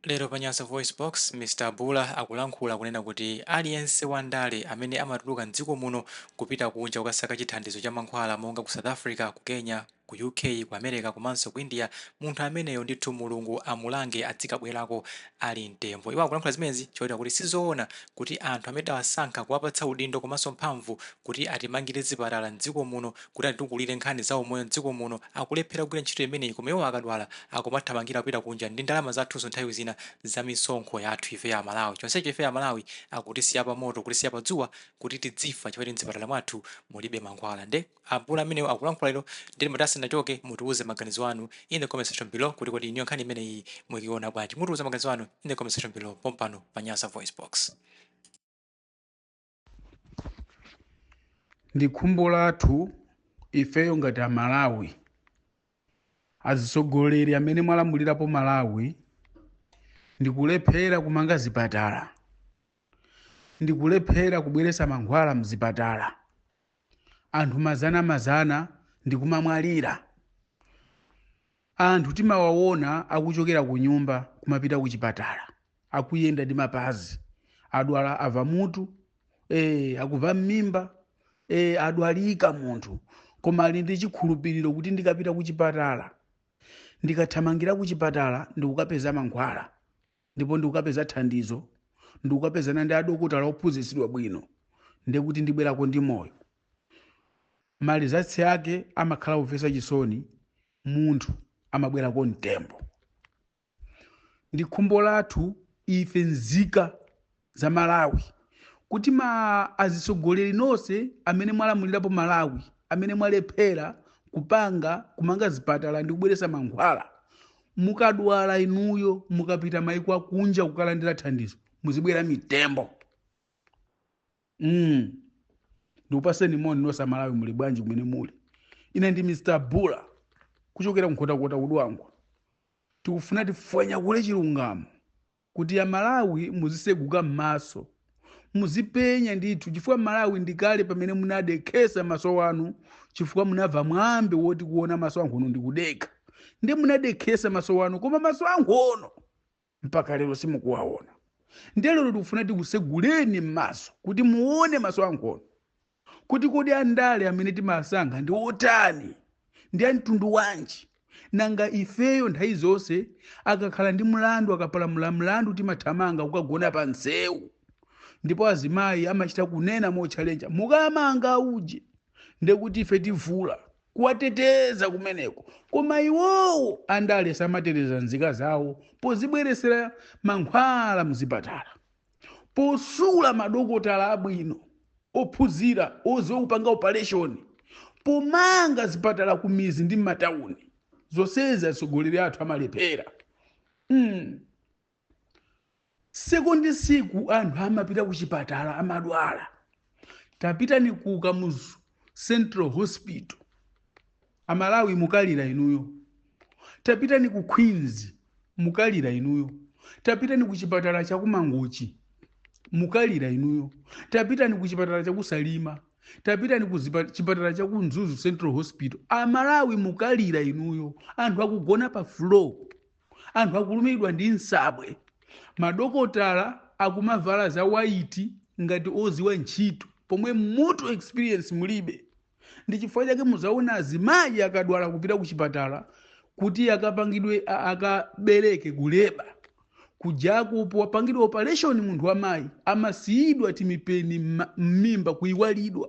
Lero pa Nyasa VoiceBox, Mr Bula akulankhula kunena kuti aliyense wa ndale amene amatuluka m'dziko muno kupita kunja kukasaka chithandizo cha mankhwala monga ku South Africa, ku Kenya, ku UK, ku America komanso ku India, munthu ameneyo ndithu Mulungu amulange adzikabwerako ali mtembo. Iwo akulankhula zimenezi chotera kuti sizoona kuti anthu amene tidawasankha kuwapatsa udindo komanso mphamvu kuti atimangire zipatala m'dziko muno, kuti atitukulire nkhani za umoyo m'dziko muno akulephera kugwira ntchito imeneyi koma iwo akadwala akumathamangira kupita kunja ndi ndalama zathunso nthawi zina za misonkho yathu ifeyo Amalawi. Chonsecho ifeyo Amalawi akutisiya pamoto, kutisiya padzuwa kuti tidzifa chifukwa choti m'zipatala mwathu mulibe mankhwala. Nde a Bula amenewo akulankhula lero ndiye timati asanachoke mutiuze maganizo anu in the comment section below kuti kodi inuyo nkhani imeneyi mukuiona bwanji? Mutiuze maganizo anu in the comment section below pompano pa Nyasa VoiceBox. ndi khumbo lathu ifeyo ngati amalawi azitsogoleri amene mwalamulirapo malawi ndikulephera kumanga zipatala ndikulephera kubweretsa mankhwala mzipatala anthu mazana mazana ndikumamwalira Anthu timawaona akuchokera kunyumba kumapita kuchipatala, akuyenda ndi mapazi, adwala ava mutu, ee, akuva mmimba, ee, adwalika munthu, koma ali ndi chikhulupiriro kuti ndikapita kuchipatala, ndikathamangira kuchipatala ndikukapeza mankhwala. ndipo ndikukapeza thandizo, ndikukapezana ndi adokotala ophunzitsidwa bwino, ndiye kuti ndibwerako ndi moyo. Malizatsi ake amakhala omvetsa chisoni, munthu amabwerako mtembo. Ndi khumbo lathu ife nzika za Malawi kuti ma azitsogoleri nonse amene mwalamulirapo Malawi amene mwalephera kupanga kumanga zipatala ndi kubweretsa mankhwala mukadwala inuyo mukapita maiko akunja kukalandira thandizo muzibwera mitembo mm. ndikupaseni moni nonse amalawi muli bwanji kumene muli ine ndi mr bula kuchokera Nkhotakota ku Dwangwa tikufuna tifwanyakule chilungamo kuti a Malawi muziseguka mmaso muzipenya ndithu chifukwa Malawi ndikale pamene munadekhesa maso wanu chifukwa munava mwambi woti kuona maso ankhono ndikudekha nde munadekhesa maso wanu koma maso ankhono mpaka lero simukuwaona ndiye lero tikufuna tikuseguleni mmaso kuti muone maso ankhono kuti kodi andale amene timasankha ndi otani ndi amtundu wanji nanga ifeyo nthawi zonse akakhala ndi mlandu akapalamula mlandu timathamanga kukagona pa msewu ndipo azimayi amachita kunena motchalenja mukamanga uje ndekuti ife tivula kuwateteza kumeneko koma iwowo andale samateteza nzika zawo pozibweretsera mankhwala mzipatala posula madokotala abwino ophunzira oziwa kupanga opereshoni pomanga zipatala kumidzi ndi m'matawuni zonsezi atsogoleri athu amalephera mm. tsiku ndi tsiku anthu amapita ku chipatala amadwala tapitani ku kamuzu central hospital amalawi mukalira inuyo tapitani ku queens mukalira inuyo tapitani ku chipatala cha kumangochi mukalira inuyo tapitani ku chipatala cha kusalima tapitani ku zipa- chipatala cha ku mzuzu central hospital amalawi mukalira inuyo anthu akugona pa floor anthu akulumidwa ndi nsabwe madokotala akumavala za waiti ngati oziwa ntchito pomwe m'mutu experience mulibe ndi chifukwa chake muzaona azimayi akadwala kupita ku chipatala kuti akapangidwe a- akabereke kuleba kujako popangidwa operation munthu wamayi amasiyidwa timipeni mma- m'mimba kuiwalidwa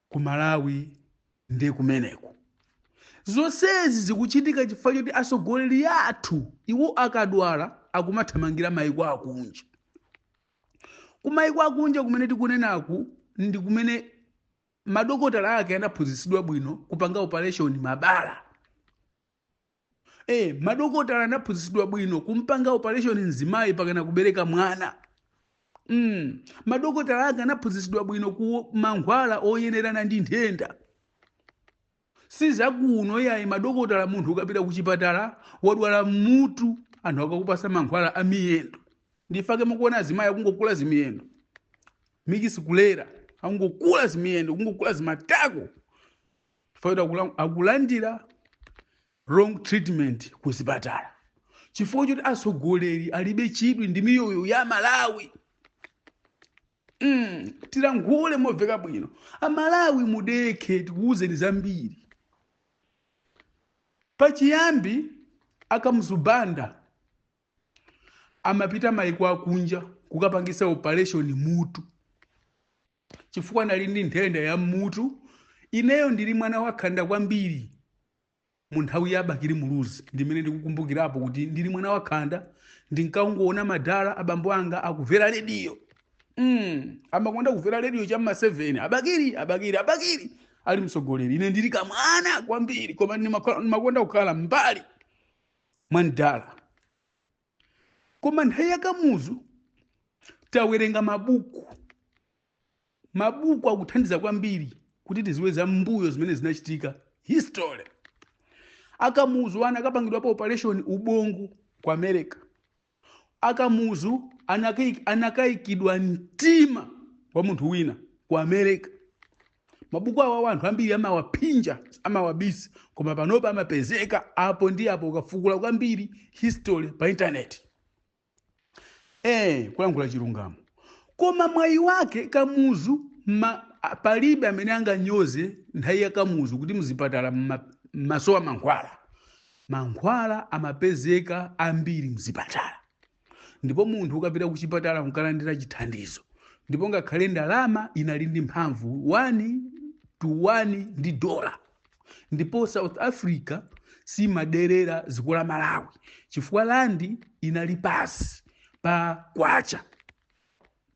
ku malawi nde kumeneko zonsezi zikuchitika chifukwa choti atsogoleri athu iwo akadwala akumathamangira maiko akunja kumaiko akunja kumene tikunenaku ndi kumene madokotala ake anaphunzitsidwa bwino kupanga operation mabala Eh, madokotala anaphunzitsidwa bwino kumpanga operation mzimayi akakana kubereka mwana. Mm. Madokotala ake anaphunzitsidwa bwino ku mankhwala oyenerana ndi nthenda. Si zakuno yayi madokotala munthu ukapita ku chipatala wadwala mutu anthu akakupasa mankhwala a miyendo. Ndi chifukwa chake mukuona azimayi akungokula zimiyendo. Mikisi kulera akungokula zimiyendo, akungokula zimatako. chifukwa choti akula- akulandira wrong treatment ku zipatala chifukwa choti atsogoleri alibe chidwi ndi miyoyo ya amalawi mm, tilankhule moveka bwino amalawi mudekhe tikuwuzeni zambiri pachiyambi a kamuzu banda amapita maiko akunja kukapangisa operation mutu chifukwa anali ndi nthenda ya m'mutu ineyo ndili mwana wakhanda kwambiri mu nthawi ya bakili muluzi ndimene ndikukumbukirapo kuti ndili mwana wakhanda ndinkangoona madala abambo anga akuvera rediyo mm, amakonda kuvera rediyo cha mma 7 abakili abakili abakili ali mtsogoleri ine ndili kamwana kwambiri koma ndimakonda kukhala mmbali mwa mdala Koma nthawi ya Kamuzu tawerenga mabuku. Mabuku akuthandiza kwambiri kuti tiziwe za mbuyo zimene zinachitika history. Akamuzu anakapangidwapo operation ubongo ku America. Akamuzu anakaik- anakaikidwa mtima wa munthu wina ku America. mabuku awa anthu ambiri amawaphinja amawabisa koma panopa amapezeka apo ndi apo ukafukula kwambiri history pa intaneti eh kulankhula chilungamo koma mwayi wake kamuzu palibe amene anganyoze nthawi ya kamuzu kuti mzipatala mma- mmasowa mankhwala mankhwala amapezeka ambiri mzipatala ndipo munthu ukapita kuchipatala kukalandira chithandizo ndipo ngakhale ndalama inali ndi mphamvu 1 to 1 ndi dola ndipo south africa simaderera ziko la malawi chifukwa landi inali pasi pa kwacha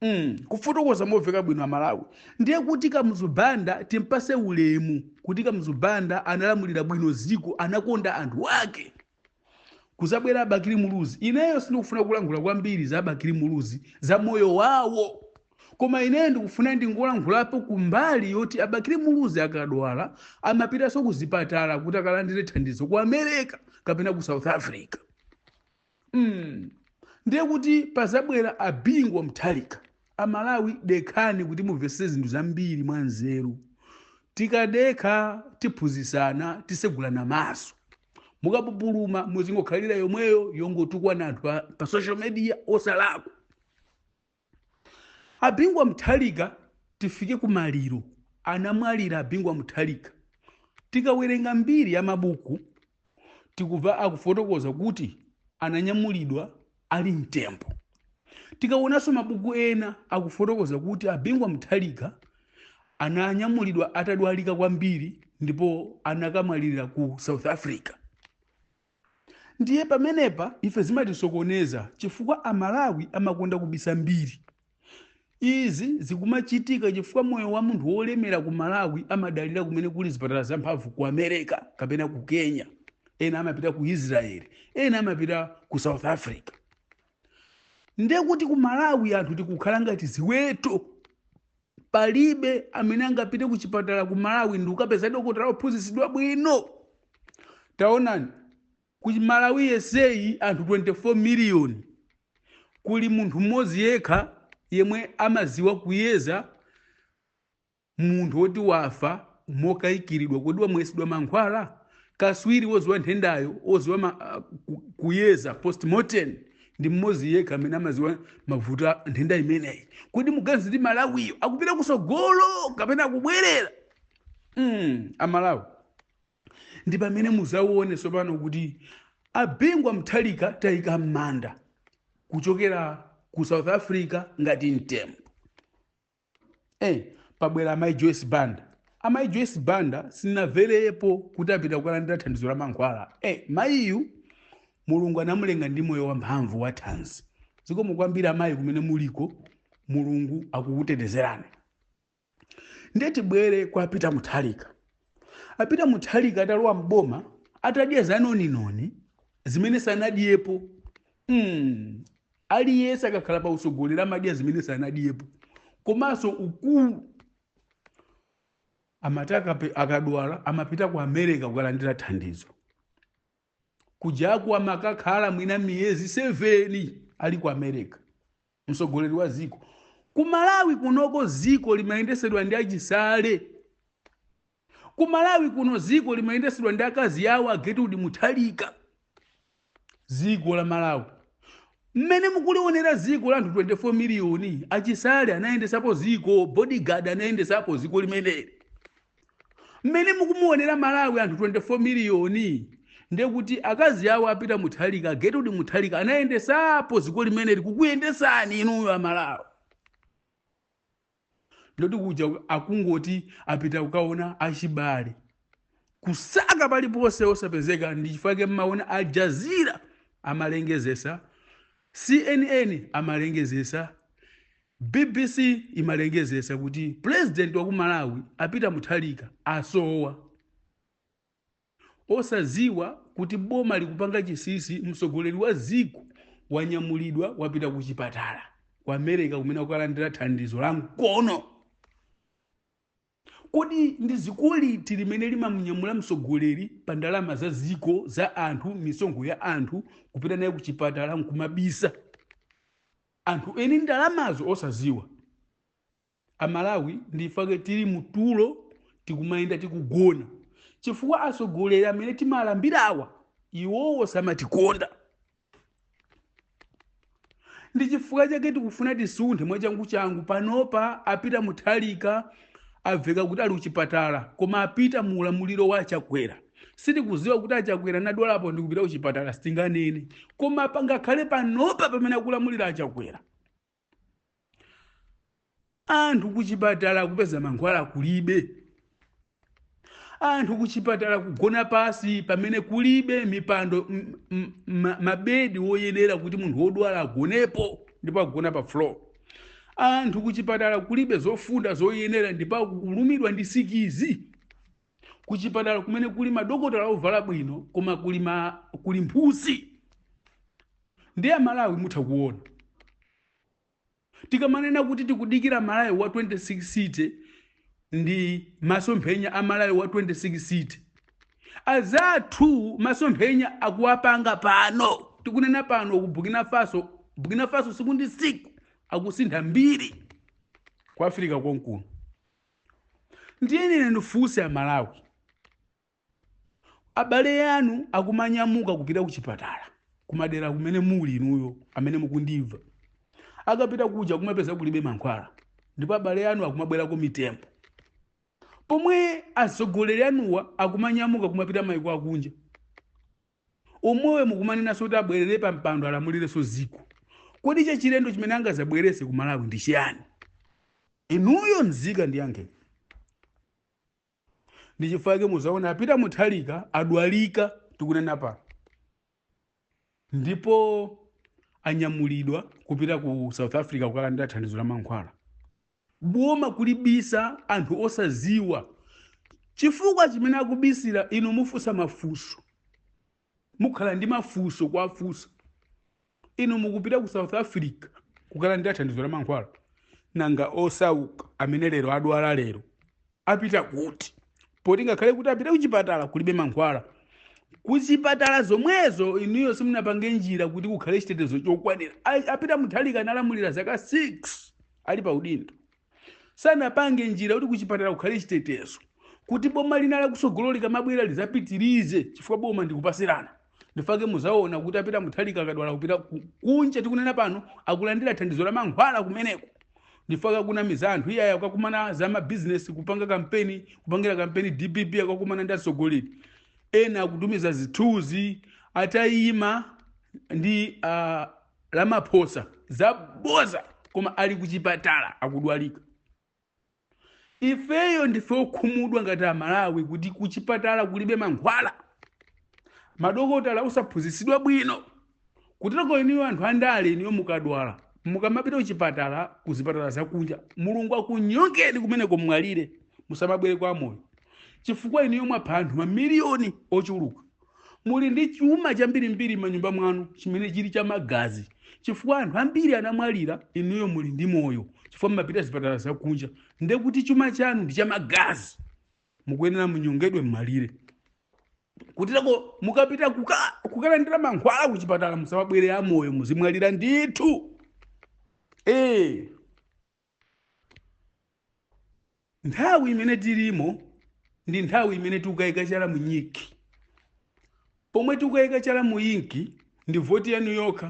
Mm, kufotokoza moveka bwino amalawi ndiye kuti kamuzu banda timpase ulemu kuti kamuzu banda analamulira bwino ziko anakonda anthu ake kuzabwera abakili muluzi ineyo sindikufuna kulankhula kwambiri za abakili muluzi za moyo wawo koma ineyo ndikufuna ndingolankhulapo kumbali yoti abakili muluzi akadwala amapitanso kuzipatala kuti akalandire thandizo ku america kapena ku south africa mm. ndiye kuti pazabwera abingu wa mutharika amalawi dekhani kuti mumvetsetse zinthu zambiri mwanzeru tikadekha tiphunzitsana tisegulana maso mukapupuluma muzingokhalira yomweyo yongotukwana anthu pa- pa social media osalakwa abingu wa mutharika tifike kumaliro anamwalira abingu wa mutharika tikawerenga mbiri ya mabuku tikumva akufotokoza kuti ananyamulidwa ali mtembo tikaonanso mabuku ena akufotokoza kuti abingu wa mutharika ananyamulidwa atadwalika kwambiri ndipo anakamwalira ku south africa ndiye pamenepa ife zimatisokoneza chifukwa amalawi amakonda kubisa mbiri Izi zikumachitika chifukwa moyo wa munthu wolemera ku Malawi amadalira kumene kuli zipatala zamphamvu ku America kapena ku Kenya. Ena amapita ku Israel, ena amapita ku South Africa. Ndiye kuti ku Malawi anthu tikukhala ngati ziweto. Palibe amene angapite ku chipatala ku Malawi ndi kukapeza dokotala wophunzitsidwa bwino. Taonani, Ku Malawi yeseyi anthu 24 million kuli munthu mmodzi yekha yemwe amadziwa kuyeza munthu woti wafa mokaikiridwa. Kodi wamwesedwa mankhwala? Katswiri wodziwa nthendayo, wodziwa ma, ku, kuyeza postmortem ndi mmodzi yekha amene amadziwa mavuto a nthenda imeneyi. Kodi muganiza kuti Malawiyo akupita kusogolo kapena akubwerera? Mm, a Malawi. ndi pamene muzaone tsopano kuti a bingu wa mutharika tayika m'manda kuchokera ku south africa ngati mtembo eh, pabwera amayi joyce banda amayi joyce banda sinamverepo kuti apita kukalandira thandizo la mankhwala eh, mayiyu mulungu anamulenga ndi moyo wamphamvu wa thanzi zikomo kwambiri amayi kumene muliko mulungu akukutetezerani ndiye tibwere kwa peter mutharika a peter mutharika atalowa mboma atadya zanoninoni zimene sanadyepo mm. aliyense akakhala pa utsogoleri amadya zimene sanadyepo komanso ukulu amati akape- akadwala amapita ku america kukalandira thandizo kujaku amakakhala mwina miyezi 7 ali ku america mtsogoleri wa ziko ku malawi kunoko ziko limayendesedwa ndi a chisale ku malawi kuno ziko limayendesedwa ndi akazi awo a gertrude mutharika ziko la malawi mmene mukulionera ziko la anthu 24 miliyoni a chisale anayendesapo ziko bodyguard anayendesapo ziko limeneli mmene mukumuonera malawi anthu 24 miliyoni ndekuti akazi awo a peter mutharika a gertrude mutharika anayendesapo dziko limeneli kukuyendesani inuyo amalawi ndoti kuja akungoti apita kukaona achibale kusaka paliponse osapezeka ndi chifukwa chake mmaona al jazeera amalengezesa cnn amalengezesa Bbc imalengezesa kuti president wa ku Malawi a Peter Mutharika asowa. Osaziwa kuti boma likupanga chisinsi mtsogoleri wa dziko wanyamulidwa wapita ku chipatala ku America kumene akukalandira thandizo la mkono. Kodi ndi ziko liti limene limamunyamula msogoleri pa ndalama za ziko za anthu misonkho ya anthu kupita naye kuchipatala nkumabisa anthu eni ndalamazo osaziwa? Amalawi ndifake tili mu tulo tikumayenda tikugona chifukwa asogoleri amene timalambirawa iwowo samatikonda. ndi chifukwa chake tikufuna tisunthe mwachanguchangu panopa a Peter Mutharika aveka kuti ali kuchipatala koma a Peter mu ulamuliro wa achakwera sitikuziwa kuti achakwera nadwalapo ndi kupita kuchipatala sitinganene koma pangakhale panopa pamene akulamulira achakwera anthu kuchipatala kupeza mankhwala kulibe anthu kuchipatala kugona pasi pamene kulibe mipando m- m- ma- mabedi woyenera kuti munthu wodwala agonepo ndipo agona pa floor anthu kuchipatala kulibe zofunda zoyenera ndipo akulumidwa ndi sikizi kuchipatala kumene kuli madokotala ovala bwino koma kuli, ma, kuli mphusi ndi amalawi mutha kuona tikamanena kuti tikudikira malawi wa 2063 ndi masomphenya a malawi wa 2063 azathu masomphenya akuwapanga pano tikunena pano ku burkina faso burkina faso siku ndi siku akusintha mbiri ku africa konkuno ndiye ine ndifunse amalawi abale yanu akumanyamuka kupita ku chipatala kumadera kumene muli inuyo amene mukundimva akapita kuja kumapeza kulibe mankhwala ndipo abale yanu akumabwerako mitembo pomwe asogoleri anuwa akumanyamuka kumapita maiko akunja Omwewo mukumanenanso kuti abwerere pa mpando alamulirenso ziko. Kodi chachilendo chimene angazabwerese ku Malawi ndi chiyani? Inuyo nzika ndiyankhe. Ndi chifukwa chake muzaona a Peter Mutharika adwalika tikunena pa ndipo anyamulidwa kupita ku South Africa kukalandira thandizo la mankhwala. boma kuwabisa anthu osaziwa chifukwa chimene akubisira inu mufusa mafuso mukhala ndi mafuso kuwafusa inu mukupita ku south africa kukalandira thandizo la mankhwala nanga osauka amene lero adwala lero apita kuti poti ngakhale kuti apite kuchipatala kulibe mankhwala kuchipatala zomwezo inuyo simunapange njira kuti kukhale chitetezo chokwanira A- a Peter Mutharika analamulira zaka 6 ali pa udindo sanapange njira kuti kuchipatala kukhale chitetezo kuti boma lina lakusogolo likamabwera lizapitirize chifukwa boma ndikupasirana ndichifukwa chake muzaona kuti apita Mutharika akadwala kupita ku- kunja tikunena pano akulandira thandizo la mankhwala kumeneko ndichifukwa chake akunamiza anthu iye akakumana za mabizinesi kupanga kampeni kupangira kampeni dpp akakumana ndi atsogoleri ena akutumiza zithunzi atayima ndi uh, Ramaphosa zaboza koma ali kuchipatala akudwalika ifeyo ndife okhumudwa ngati amalawi kuti kuchipatala kulibe mankhwala madokotala osaphunzitsidwa bwino kutereko iniyo anthu andale iniyo mukadwala mukamapita kuchipatala kuzipatala zakunja mulungu akunyongeni kumeneko mumwalire musamabwere amoyo chifukwa iniyo mwapha anthu mamiliyoni ochuluka muli ndi chuma chambirimbiri m'manyumba mwanu chimene chili cha magazi chifukwa anthu ambiri anamwalira inuyo muli ndi moyo chifukwa mmapita zipatala zakunja nde kuti chuma chanu ndi cha magazi mukuyenera munyongedwe mmalire kuteroko mukapita kuka- kukalandira mankhwala kuchipatala musamabwere amoyo muzimwalira ndithu ee Nthawi imene tilimo ndi nthawi imene tikukayika chala mu inki. Pomwe tikukayika chala mu inki ndi voti yanu yokha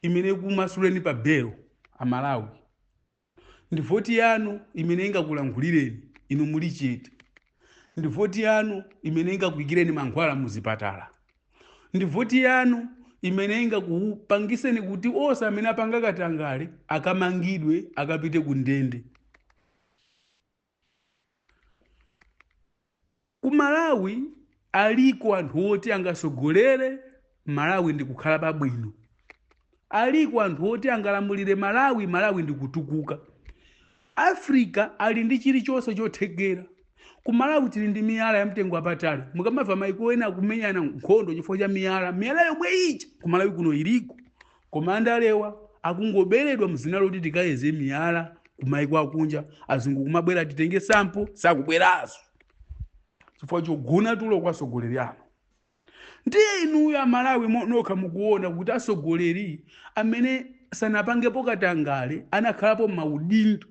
imene ikumasuleni pa 6 koloko a Malawi. Ndi voti yanu imene ingakulankhulireni inu muli chete. ndi voti yanu imene ingakuikireni mankhwala muzipatala ndi voti yanu imene ingakupangiseni kuti onse amene apanga katangale akamangidwe akapite ku ndende ku malawi Aliko anthu oti angasogolere Malawi ndikukhala pabwino. Aliko anthu oti angalamulire Malawi, Malawi ndikutukuka. Africa ali ndi chilichonse chothekera. Ku Malawi tili ndi miyala ya mtengo wapatali. Mukamamva maiko ena akumenyana nkhondo chifukwa cha miyala, miyala yomwe ija ku Malawi kuno iliko. Koma andalewa akungoberedwa mzina loti tikayeze miyala ku maiko akunja. Azungu kumabwera titenge sample, sakubweraso. chifukwa chogona tulo kwa atsogoleri anu ndiye inuyo amalawi mo- nokha mukuona kuti atsogoleri amene sanapangepo katangale anakhalapo m'maudindo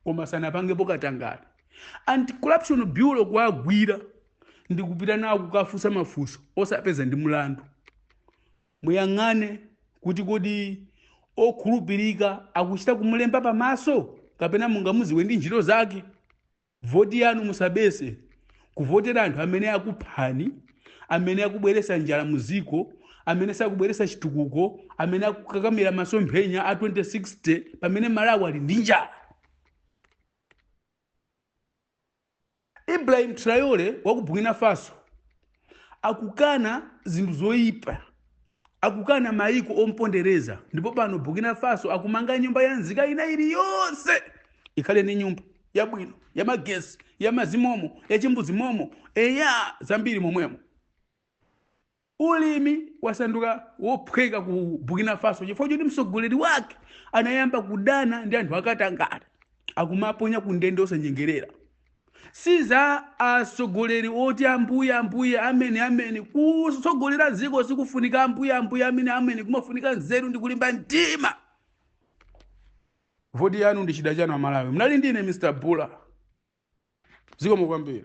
koma sanapangepo katangale anti-corruption bureau kuwagwira ndi kupita nawo kukafunsa mafunso osawapeza ndi mlandu muyang'ane kuti kodi okhulupirika akuchita kumulemba pamaso kapena mungamudziwe ndi ntchito zake Voti yanu musabese kuvotera anthu amene akuphani, amene akubweresa njala mu ziko, amene sakubweresa chitukuko, amene akukakamira masomphenya a 2060 pamene Malawi ali ndi njala. Ibrahim Traore wa ku Burkina Faso akukana zinthu zoipa. Akukana maiko ompondereza ndipo pano Burkina Faso akumanga nyumba ya nzika ina iliyonse ikhale ni nyumba yabwino yamagesi yamazi momo yachimbuzi momo eya zambiri momwemo ulimi wasanduka wophweka ku Burkina Faso chifukwa choti msogoleri wake anayamba kudana ndi anthu akatangale akumaponya ku ndende osanyengerera Si za asogoleri oti ambuye ambuye ameni ameni. Kutsogolera dziko sikufunika ambuye ambuye ameni ameni, kumafunika nzeru ndi kulimba mtima. Voti yanu ndi chida chanu Amalawi. Mnali ndine Mr. Bula. Zikomo kwambiri.